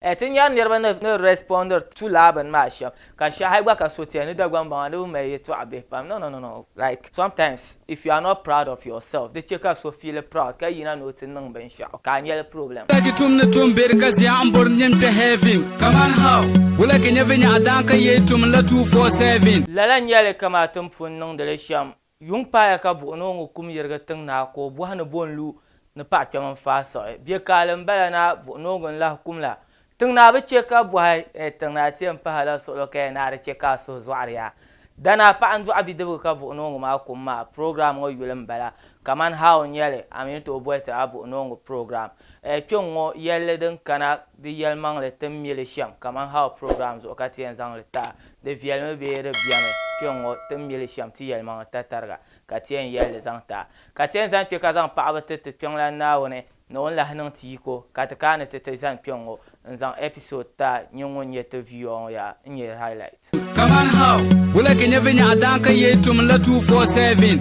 Ti nyari niriba ni ni respondiri to lala bini maa shem ka shee hali gba ka so ti ya ni Dagbaŋ baŋa di bi mali yeltɔɣa bihi pam no no no no like sometimes if you are not proud of yourself di che ka so feel proud ka yina ni o ti niŋ binshɛɣu ka a nyɛli problem. Wula ki tum ni tum beri ka zia n bori nyin kpe heaven kaman how? Wula ki nyɛ vinyɛɣu daan ka yei tum n la 247? Lala n nyɛli kamaa ti ni pun niŋdi li shem Yuŋ paaya ka buɣi ni o ŋɔ kum yirigi tiŋ naa ka o bɔhi ni bɔ n-lu ni paɣa kpɛm n-faai siɣi. Bɛ kaali m-bala naa buɣi ni o ŋun lahi kum la. Tiŋ naa bi chɛ ka bɔhi, Ɛɛ tiŋ naa ti yɛn pahi la suɣilo ka ya naa di chɛ ka a suhu zɔɣiri ya? Danaa paɣa n-dɔɣi bidibiga ka buɣi ni o ŋɔ maa kum maa. Program ŋɔ yuli m-bala kamani how n-nya li, a mi ni tooi boli ti a buɣi ni o ŋɔ program. Ɛɛ kpe ŋ-ŋɔ yɛlli din kana di yɛlimaŋli ti mi li shɛm kamani how program zuɣu ka ti yɛn zaŋ li ti a. Di viɛlimi bee di biɛmi kpɛŋŋo ti ni mili shɛm ti yɛlimaŋli tatariga, ka ti yɛn yɛli li zaŋ ti a. Ka ti yɛn zaŋ kpɛ ka zaŋ paɣaba ti ti Kpiɔŋlan Naawuni ni o ni lahi niŋ ti yiko, ka ti kaani ti ti zani kpɛŋŋo n-zaŋ ɛpisod ti a, nyin ŋun nyɛ ti viiɔɔ ŋɔ yaa n-nyɛ highlight. Kaman how. Wula ka nyɛ vinyɛɣu daan ka yee tum la 247?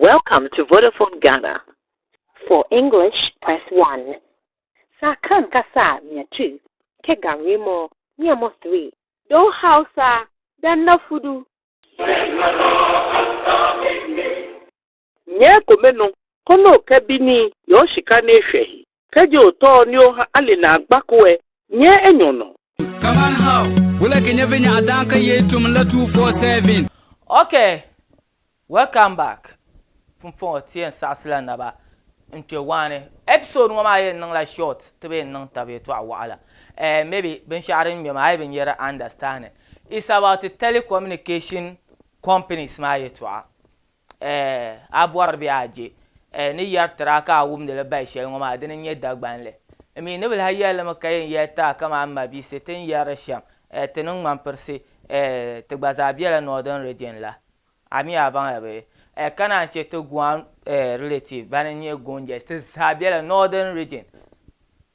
Welcome to Vodafone Ghana. For English, press one. Sa kan ka sa mia two, ke gan re mo, mia mo three. Do Hausa, dan na fudu. Nyɛ ko me nu, ko lo kɛ bi ni yɔ shika ne shɛhi, kɛ je o tɔɔ ni o ha ali na gba kuɛ, nyɛ e nyɔ nɔ. Kaman how wula ka nyɛ vinya a daan ka yei tum la two four seven. Ok welcome back pumpɔŋɔ ti yɛn saɣisila naba n kpe waani episode ŋɔ maa yɛn niŋla short ti bi yɛn niŋ tab yɛtɔɣa waɣila eh maybe binshɛɣu din ŋmɛ maa a yi bi nyɛ di understanding it's about telecommunication companies maa yɛtɔɣa. Eh, a bɔri bee a je? Eh, ni yɛri tiri a ka a wumdi li bahi shɛli ŋɔ maa, dini n-nyɛ Dagbanli. N mi ni bi lahi yɛli li mi ka yɛn yɛli ti a kaman mabiisi ti ni yɛri li shɛm, eh, ti ni ŋmani pirisi, eh, ti gba zaa bela Northern Region la. A mi a baŋya bee? Eh, ka naan che ti Guan, eh, relative bani n-nyɛ Gonjais, ti zaa bela Northern Region.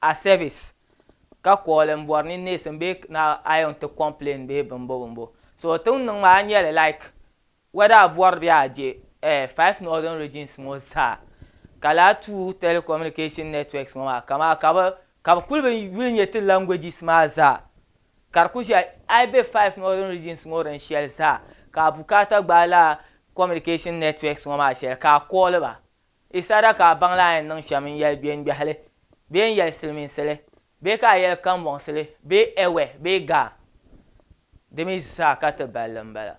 a service ka call n bɔri ni neesim bee na iron ti complain bee bimbo bimbo so tiŋ niŋ maa nyɛli like whether a bɔri bee a je eh five northern regions ŋɔ zaa ka lahi tuu telecommunication networks ŋɔ maa kamaa ka bi ka bi kuli bi yuli nyɛ ti languages maa zaa ka di kuli ʒiya a yi be five northern regions ŋɔ din shɛli zaa ka a bukaata gbaai lala communication networks ŋɔ maa shɛli ka a call ba Yi saɣira ka a baŋla a yɛn niŋ shɛm n-yɛli gbeŋgbɛhili bee n-yɛli silimiinsili bee ka a yɛli kambɔŋsili bee Ɛwɛ bee Gaa. Di mi zaa ka ti balli m-bala.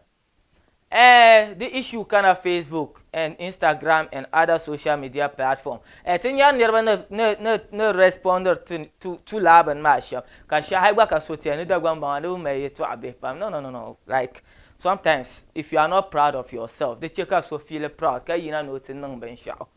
Eh, di issue kana Facebook and Instagram and other social media platform eh ti nyari niriba ni ni ni ni respondiri ti tu tu lala bini maa shɛm ka shɛhi gba ka so ti ya ni Dagbaŋ baŋa di bi mali yɛtɔɣa bihi pam no no no no like Sometimes if you are not proud of yourself di che ka so feel proud ka yina ni o ti niŋ binshɛɣu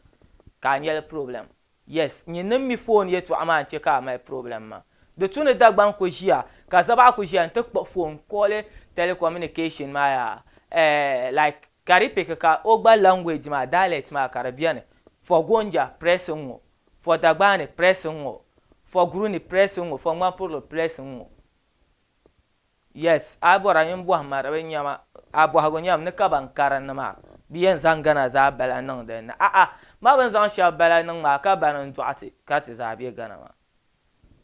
ka a nyɛli problem. Yes, nyin ni m mi foon yɛtɔɣa maa n-che ka a mali problem maa. Di tu ni Dagbaŋ ku ʒiya ka Zabaɣa ku ʒiya n-ti kpuɣi foon n-kɔɣili telecommunication maa yaa eh like Karipik ka o gba language maa, dialect maa ka di beni. For Gonja, press n-ŋɔ. For Dagbani, press n-ŋɔ. For Guruni, press n-ŋɔ. For Ŋmanpurili, press n-ŋɔ. Yes a bɔra nyin bɔhi ma di bi nyɛma a bɔhigu nyɛm ni ka ban karinli maa bi yɛn zaŋ Ghana zaa bala niŋ din ni a'a ma bini zaŋ shɛba bala niŋ maa ka bani n dɔɣi ti ka ti zaa bɛ Ghana maa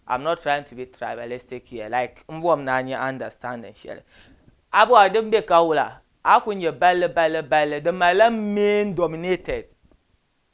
am not trying to be tribalistic here like n bɔhim ni a nyɛ understanding shɛli a bɔra din bɛ ka wula a ku nyɛ balli balli balli di malila main dominated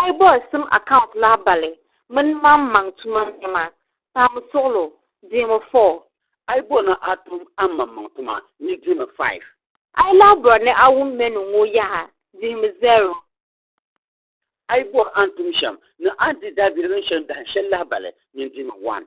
Aibos tim account lahabali mini maŋmaŋ tuma nɛma, paami suɣilo, deemi four. Aibos ni a tum a maŋmaŋ tuma ni deemi five. Ailabra ni a wum menu ŋɔ yaha, deemi zero. Aibos a ni tum shɛm ni a ni di daabiligim shɛm dahin shɛli lahabali ni deemi one.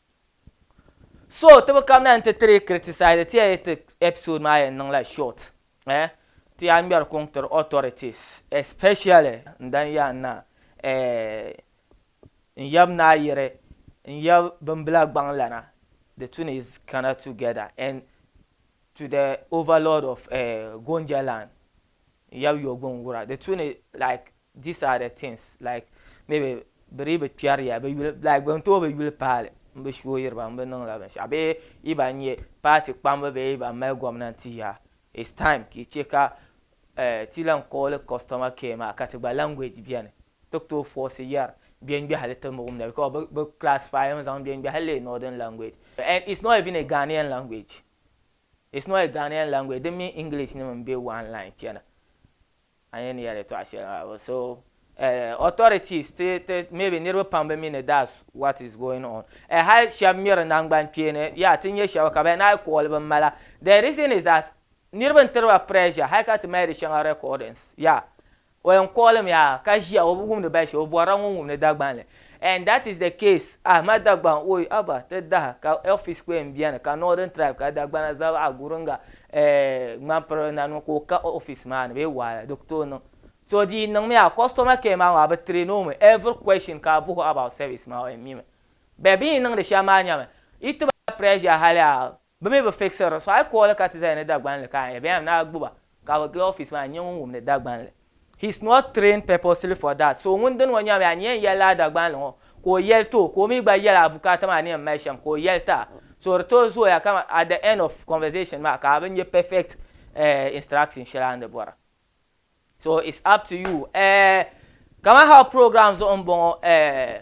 So ti bi kabina n ti tiri criticize ti ya ti episode maa yɛn niŋ la short eh ti ya ŋmɛri kuŋ tiri authorities especially n dan ya n na eh n yab naa yiri n yab bin bila gbaŋ lana the two is kana together and to the overlord of eh Gonja land n yab yogbuŋ wura the two like These are the things like maybe bɛ dii bi kpɛri ya bɛ yuli like bɛ ni tooi bi yuli paali m bi shooyiri ba m bi niŋla binshɛɣu bee yi ban nyɛ paati kpamba bee yi ban mali gomnanti ya it's time ka yi che ka eh, ti lan kooli customer care maa ka ti gba language beni ti ku tooi force yari gbengbehili ti mi wumda because bɛ bɛ classify mi zaŋ gbengbehili lee northern language and it's not even a Ghanaian language it's not a Ghanaian language di mini English nim m be one line chana. An yɛn yɛli tɔɣa shɛli maa bɛ so eh, authorities ti ti maybe niriba pam bi mi ni that's what is going on eh, hali shɛba mi di nangbani kpeeni yeah ti nyɛ shɛba ka bɛ naai call bin mala the reason is that niriba n tiri ba pressure hali ka ti mali di shɛŋa recordings yeah o yɛn call mi yaa ka ʒiya o bi wumdi bɛ shɛm o bɔrila ŋun wumdi Dagbanli And that is the case Ahmad Dagban oi aba ti daha ka Elfi Square n beni ka Northern Tribe ka Dagbana zab a guringa eh Ŋmanpiri na niŋ ka o ka office maa ni bee wahala di ku tooi niŋ so di yi niŋ mi a customer care maa ŋɔ a bi train o mi every question ka a buhi o about service maa o yɛn mi mi beh bini yi niŋdi shɛm maa nyami yi ti ba pressure hali a Bɛ mi bi fixiri di. So a yi kooli ka ti zaya ni Dagbanli ka a yɛn na gbubi a ka bɛ gili office maa n-nyɛ ŋun wumdi Dagbanli. He's not trained purposely for that. So ŋun dini ŋɔ nyami a ni yɛn yɛlila a Dagbanli ŋɔ ka o yɛli ti o ka o mi gba yɛli a bukaata maa ni yɛn mali shɛm ka o yɛli ti a. So di tooi zooya ka at the end of conversation maa ka a bi nyɛ perfect instruction shɛli a ni di bɔra. So it's up to you. Eh, kaman how program zuɣu m-bɔŋɔ eh.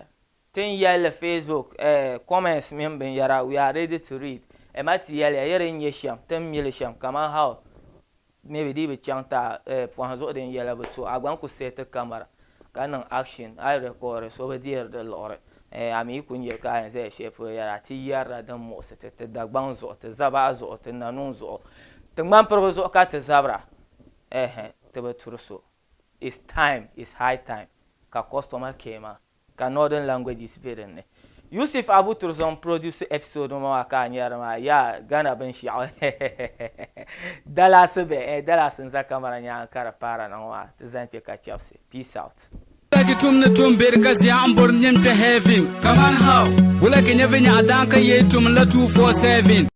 Tin yɛlli Facebook eh, comments mini binyɛra we are ready to read eh ma ti yɛliya yi di ni nyɛ shɛm tin mi li shɛm kaman how mi bi dii bi chaŋ ti a eh pɔhim zuɣu din yɛla bi to a gba n ku set camera ka niŋ action a yi record so bi deeri di liɣiri eh a mi yi ku nya ka a yɛn zaya shɛli polo yɛra a ti yɛrila din muɣisi ti ti Dagbaŋ zuɣu ti Zabaɣa zuɣu ti Nanuu zuɣu ti Ŋmanpirigu zuɣu ka ti zabira eh ti bi turi so it's time it's high time ka customer care maa Ka Northern Languages be din ni. Yusuf Abu Turzon n produce episode ŋɔ maa ka a nyari maa yaa Ghana binshiɛɣu hehehehe Dallas be eh Dallas n za camera nyaanga ka di paara na ŋɔ maa ti zani kpe ka chɛbisi Peace out. Wulagi tum ni tum be di ka zia n bori n nini kpe heaven. Kaman how? Wulagi nyɛ vinyɛɣu daan ka yee tum n la 247.